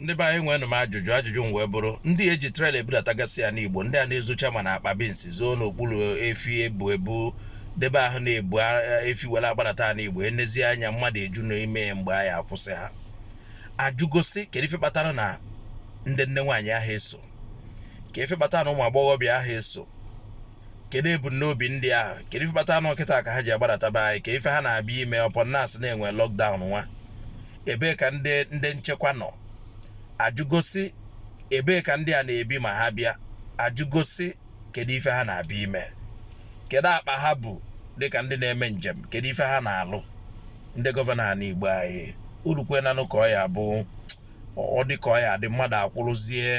ndị be anyị enwenụ m ajụjụ ajụjụ m wee bụrụ ndị eji trailer ebudatagasị ya n'igbo ndị a na-ezocha ma na akpa binsi zoo n'okpuru efi ebu ebu debe ahụ na-ebu efi were agbadata n'igbo enezi anya mmadụ eju n'ime mgbe anyị akwụsị ha ajụgosi kedu ife kpatara na ndị nne nwaanyị ahụ eso ka ife kpatara na ụmụ agbọghọbịa ahụ eso kedu ebumnobi ndị ahụ kedu ife kpatara na ọ kịta ka ha ji agbadata be anyị ka ife ha na-abịa ime upon na asị na enwe lockdown nwa ebee ka ndị nchekwa nọ ajụgosi ebee ka ndị a na-ebi ma ha bịa ajụgosi kedu ife ha na-abịa ime kedu akpa ha bu dịka ndị na-eme njem kedu ife ha na-alụ ndị gọvanọ ana igbo anyị olukwenanụ ka ọ ya-abụ ọ dị ka ọ ya-adị mmadụ akwụrụzie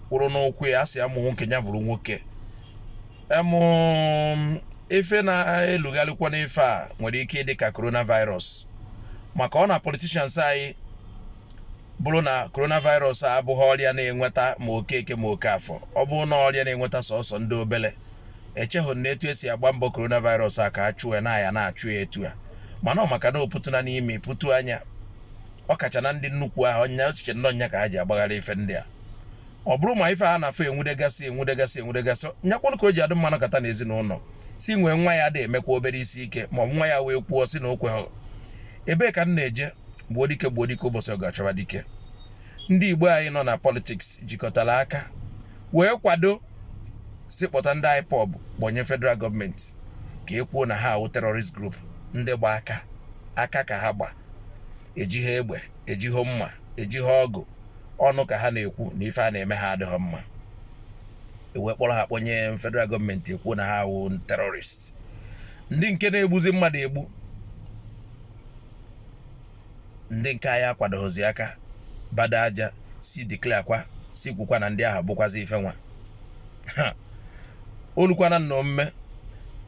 kwụrụ n'ụkwụ ya asị amụ nwoke ya bụrụ nwoke ife na-elugharịkwa n'ife a nwere ike ịdị ka coronavirus maka ọ na politicians anyị ọ bụrụ na coronavirus a abụghị ọrịa na-enweta ma okeke ma okafọ ọ bụrụ na ọrịa na-enweta sọsọ ndị obele echeghị m na etu esi agba mbọ coronavirus a ka a chụọ na ya na-achụ ya etu a mana ọ maka na opụtụna n'ime pụtụ anya ọ kacha na ndị nnukwu ahụ ọnya osiche na ọ nya ka ha ji agbagharị ife ndị a ọ bụrụ ma ife a na-afọ enwudegasị enwudegasị enwudegasị nyakwanụ ka o ji adị mma anọkata na ezinụlọ si nwee nwa ya dị emekwa obere isi ike ma ọ bụ nwa ya wee kwuo si na okwe ha ebee ka m na-eje gbuo dike gbuo dike ụbọchị ọgụ achọba dike ndị igbo anyị nọ na politiks jikọtara aka wee kwado si kpọta ndị IPOB kpọnye federal gọọmenti ka e kwuo na ha awụ terrorist group ndị gba aka aka ka ha gba ejighị egbe ejighị mma ejighị ọgụ ọnụ ka ha na-ekwu na ife a na-eme ha adịghị mma ewee kpọrọ ha kpọnye federal gọọmenti ekwuo na ha awụ terrorist ndị nke na-egbuzi mmadụ egbu ndị nke anyị akwadoghịzi aka bada aja si declare kwa si kwukwa na ndị ahụ bụkwazi ife nwa olukwana na omume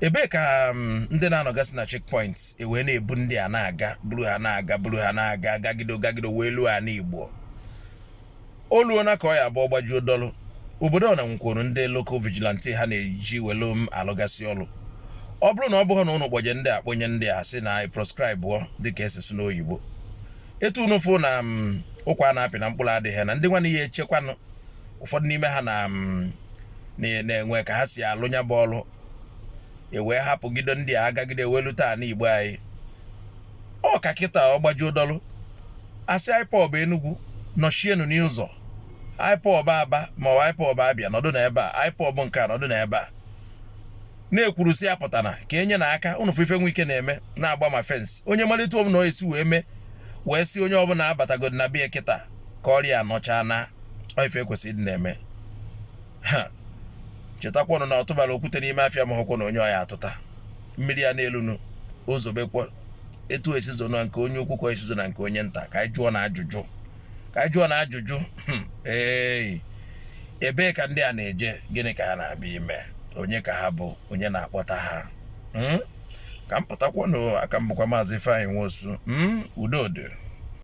ebee ka um, ndị na-anọgasị na checkpoint ewee na-ebu ndị a na-aga buru ha na-aga buru ha na-aga gagido gagido wee luo ana igbo oluona ka ọ ya-abụ ọ gbajuo dọlụ obodo ọ na nwekwuru ndị local vigilante ha na-eji welu alụgasị ọlụ ọ bụrụ na ọ bụghị na ụnụ kpọje ndị a kpọnye ndị a sị na anyị proscribe dịka esi asị n'oyibo etu unu fụ na um, ụkwa na-apị na mkpụrụ adịghị na ndị nwanne ya echekwanụ ụfọdụ n'ime ha na mm, na-enwe ka ha si alụ nya bụ ọlụ ewee hapụgido ndị a agagide welu taa na igbo anyị ọ ka kịta ọ gbajuo dọlụ a sị ipob enugwu nọchienu n'ụzọ ipob aba ma ọ ipob abịa nọdụ na ebe a ipob nke a nọdụ na ebe a na-ekwuru si apụtana ka e nyena aka ụnụ fụ ife nwe ike na-eme na-agba ma fensị onye malite ọ bụla e si wee mee wee si onye ọ bụla abatagodi na bịa kịta ka ọrịa nọchaa na ife e kwesịrị ịdị na-eme ha chetakwanụ na ọ tụbara okwute n'ime afịa amahọkwanụ onye ọ ya-atụta mmiri a na-elunu o zobekwa etu o si ezo na nke onye ukwu ka o si ezo na nke onye nta ka anyị jụọnụ ajụjụ ka anyị jụọnụ ajụjụ hmm, ee ebee ka ndị a na-eje gịnị ka ha na-abịa ime onye ka ha bụ onye na-akpọta ha hmm? ka m pụtakwanụ aka m bụkwa maazị Ifeanyi Nwosu hmm? udo dị